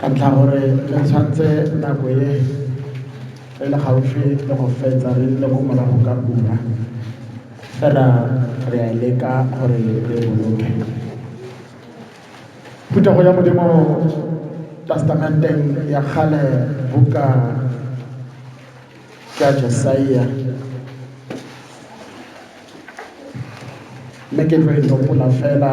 Ka ntlha gore re tshwantse nako e re le gaufi le go fetsa re le ko morago ka ura fela re a leka gore re boloke phutego ya modimo testamenteng ya kgale buka ya jesaia mme ke tlo e topola fela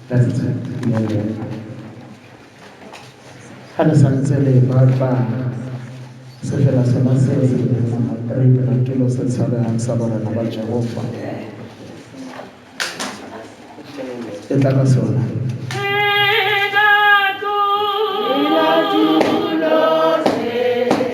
That's it. Ga le santse le batla sefela sona se re dirang dilo se tshabehang sa barana ba Jehofa e tla ka sona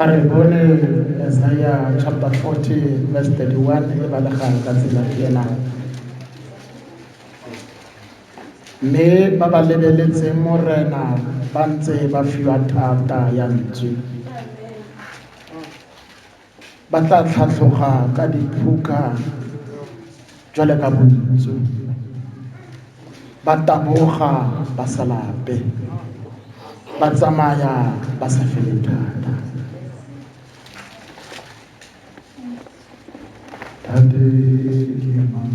a re bone isaya chapter 40 verse 31 e balegang ka tsela e ena mme ba ba lebeletseng morena ba ntse ba fiwa thata ya ntswe Ba tla tlhatlhoga ka diphuka jwale ka bontsu, ba taboga ba sa lape, ba tsamaya ba sa fele thata. Tate ke mang?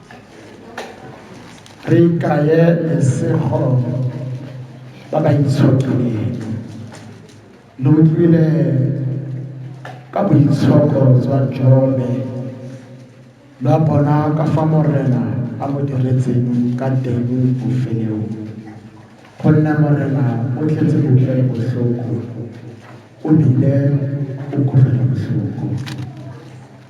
re ikaye lesego ba ba itshotleng lo utlwile ka boitshoko jwa jobe lwa bona ka fa morena a mo diretseng ka teng bofelong gonne morena o tletse botlele botlhoko o bile o kutlwela botlhoko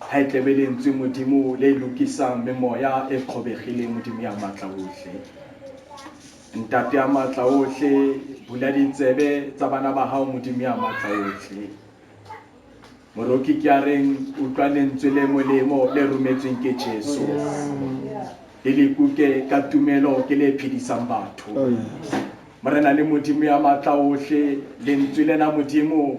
Ha e tlebe Lentswe Modimo le lokisang memoya e kgobegileng, Modimo ya Maatlaohle. Ntate ya Maatlaohle, bula ditsebe tsa bana ba Gago, Modimo ya Maatlaohle. Moroki ke a reng, utlwa Lentswe le molemo le rometsweng ke Jesu. Le le kuke ka tumelo ke le phedisang batho. Morena le Modimo ya Maatlaohle, Lentswe lena Modimo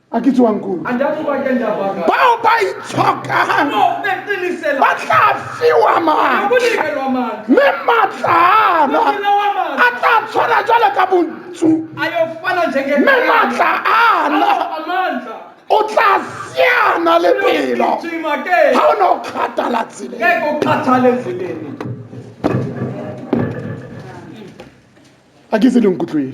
a ke tsewang koo bao ba itshokang ba tla fiwa maatla mme maatlaana a tla tshwana jalo ka bontsu mme maatla ana o tla siana le pelo ga o ne o kgathala tseleng a ke se le nkutlweng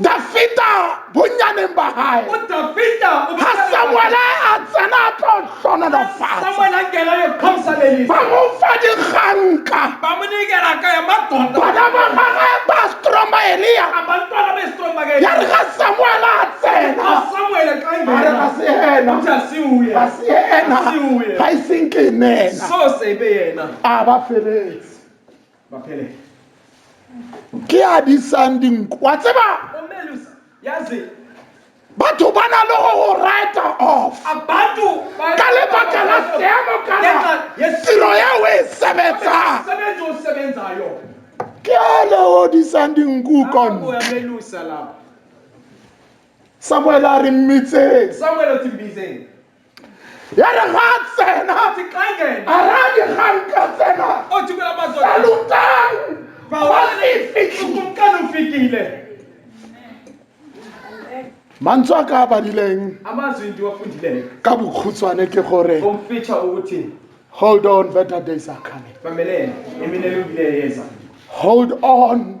dafita bonnyaneng ba hae ha samuele a tsena a tlo hlononofatsa ba mo fa dikganka bana ba gage ba stromba elia ya re ga samuele a tsena a re ga se ena ga se ena ga e seng ke nena a ba feletse Maphele. Ke a disang dinku. Wa tseba? Omelus. Yazi. Batho ba na le go go write off. Abantu ba ka lebaka la seemo kana tiro ya o e sebetsang. Sebenzo sebenzayo. Ke a le o disang dinku kon. Omelusa la. Samuel a re mmitse. Samuel o tsimbizeng. ya re ga a tsena a ra dikgang ka tsena salutang fitlhile mantswe a ka a badileng ka bokhutshwane ke gore hold on better days are coming hold on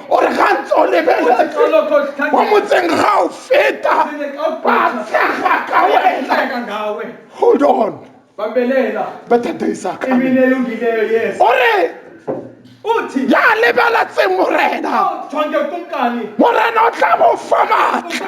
o re ga ntse o lebeletse mo motseng ga o feta ba tshega ka wena hold on better days are coming o re ya lebeletse morena morena o tla mo fa maatla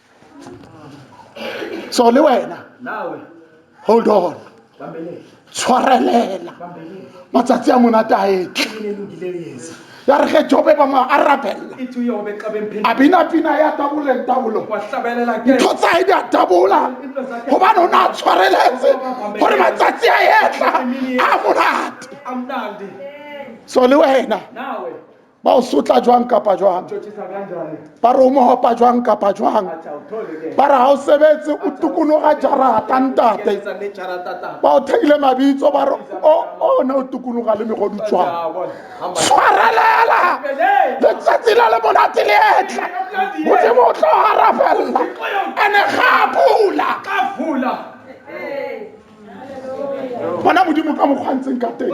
so le wena hold on tshwarelela matsatsi a monate a etle ya re ge jobe ba mo arabella a bina pina ya taboleng tabolo ntho tsae di a tabola gobane o ne a tshwareletse gore matsatsi a etla a monate so le wena ba o sotla jwang kapa jwang ba re o mohopa jwang kapa jwang ba re ha o sebetse o tukologa jarata ntate ba o theile mabitso ba re o ne o tukologa le megodu jwang tshwarelela letsatsi la le monate le etla modimo o tlo garafelela ene ga pula bona modimo ka mokgwantseng ka teng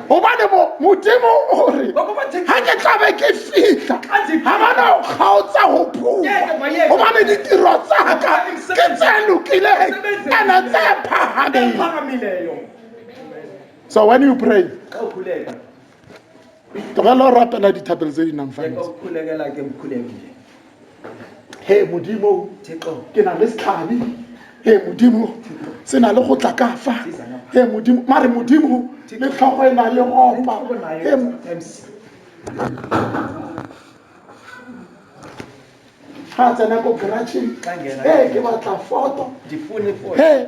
gobane modimo o re ga ke tlabe ke fitlha ga bana go kgaotsa go phuma gobane ditiro tsaka ke tse lokileng ene tse phagamile so when you pray tlogela o rapela dithapelo tse di nang fantse he modimo ke na le setlhabi he modimo se na le go tla ka fa he modimo mare modimo le tlhogo e na le gopa ga tsena ko garageng e ke batla foto he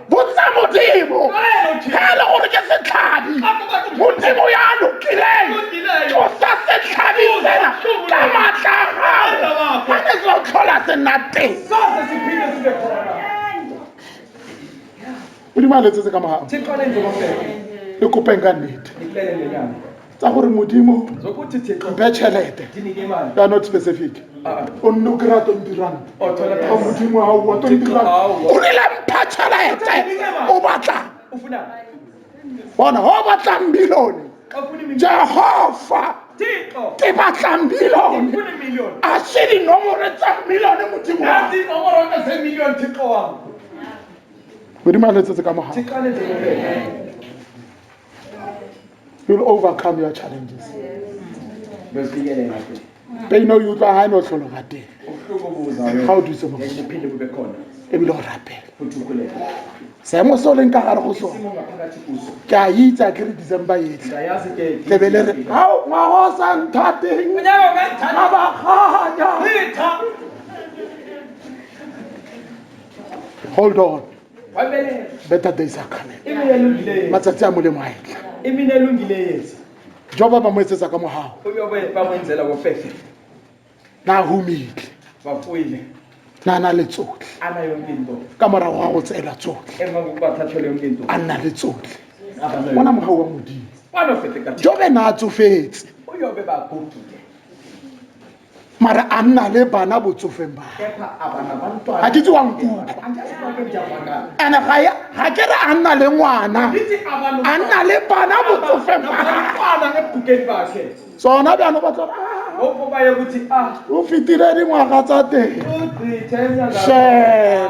botsa modimo ga le gore ke setlhabi modimo ya lokileng tlosa setlhabi sena ka maatla a gago ga ke tlo tlhola se nna teng modimo a letsetse ka mogago le kopeng ka nnete tsa gore modimo mpe tšhelete ya not specific ah. o nne o kry-a twenty rand ga modimo ga oa twenty rand o rile mpha tšhelete o batla bona go batlang milione jehova ke batlang milione a se dinomore tsa milione modimo modimo a letsetse ka mogao you'll overcome your challenges peino e utlwa ga e ne o tlholo ga teng ga o dutse mo ebile o rapela seemo se o leng ka gare go sone ke a itsa ke re december etlhe tlebe le re ao ngwago o sa nthateng ga baganya hold on better days are coming matsatsi a molemo a etla jo ba ba mo etsetsa ka mogago na a humitle na a na le tsotlhe ka morago ga go tseela tsotlhe a nna le tsotlhe ona mogao wa modimo jo be na a tsofetse mara a nna le bana botsofeng ba ga ke tse wa nkutlwa ene ga ya- ga ke re a nna le ngwana a nna le bana botsofeng ba gagwe tsona bjano ba tlo o fetile dingwaga tsa teng Shame.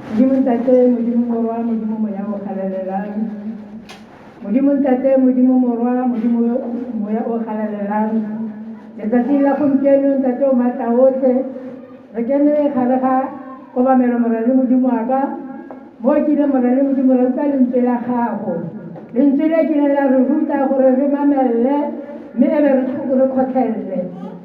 Modimo Ntate, Modimo Morwa, Modimo Moya o galalelang. Modimo Ntate, Modimo Morwa, Modimo Moya o galalelang. Letsatsi la gompieno Ntate o maatla otlhe, re kene gare ga kobamelo morale Modimo wa ka, mo o kile morale Modimo ra utlwa lentswe la gago. Lentswe le kile la re ruta gore re mamelele mme e be re kgotlhelele.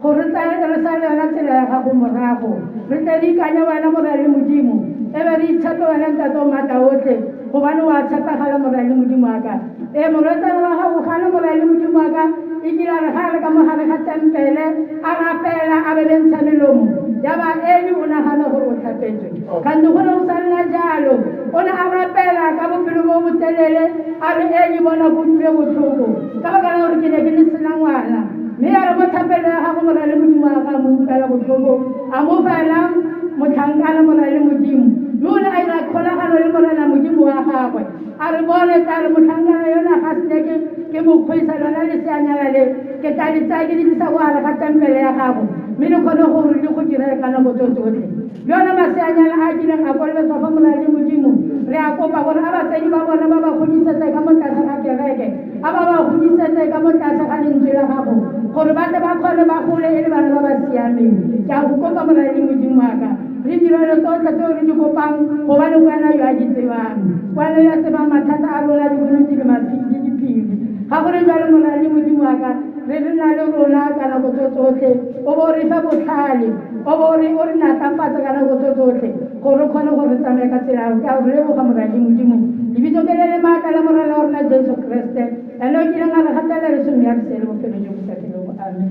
Gore re tsaya re sale yona tsela ya gago morago, re tle re ikanye wena Morali Modimo, e be re itshepe wena Ntate o Matla otlhe, gobane wa tshepegala Morali Modimo wa ka. Ee, morwetsana wa gago o gana Morali Modimo wa ka, e kile a re ga a le ka mo gare ga tempele, a rapela a bebentsha melomo, ya ba Eli o nagana gore o tlhapetswe. Kgante go ne go sa nna jalo. O ne a rapela ka bopelo bo botelele a re, Eli, bona ke utlwile botlhoko, ka baka la gore ke ne ke ne sena ngwana. Mme a re mo thapelo ya gagwe go na le Modimo wa gagwe a mo utlwela botlhoko, a mo fa ena motlhankana go na le Modimo. Mme o ne a ira kgolagano le Morena Modimo wa gagwe. A re, Bone, tla re motlhankana yola ga sne ke, ke mo kgweisa, lona leseanyana le, ke tla le tsaya ke le tlisa ko gare ga tempele ya gago, mme le kgone gore le go direle ka nako tso tsotlhe. Le ona maseanyana a a kileng a kolobetswa fa go na le Modimo, re a kopa gore a batsadi ba bona ba ba godisetse ka mo tlase ga kereke. a ba ba godisetse ka mo tlase ga lentswe la gago gore ba tle ba kgone ba gole e le bana ba ba siameng ke a go kopa moradi modimo wa ka re direlo tsotlhe tseo re di kopang gobane go wena yo a di tsebang go wena yo a tsebang mathata a rona diboloki le le diphiri ga gore jalo moradi modimo wa ka re re na le rona ka nako tso tsotlhe o bo re fe botlhale o bo re o re natlafatse ka nako tso tsotlhe gore o kgone gore tsamaya ka tsela o ka o leboga moradi modimo lebitso ke le le maatla la morena wa rona jesu kreste la le o kileng a re gatela leso mme a re sele bophelo jo bo sa felego amen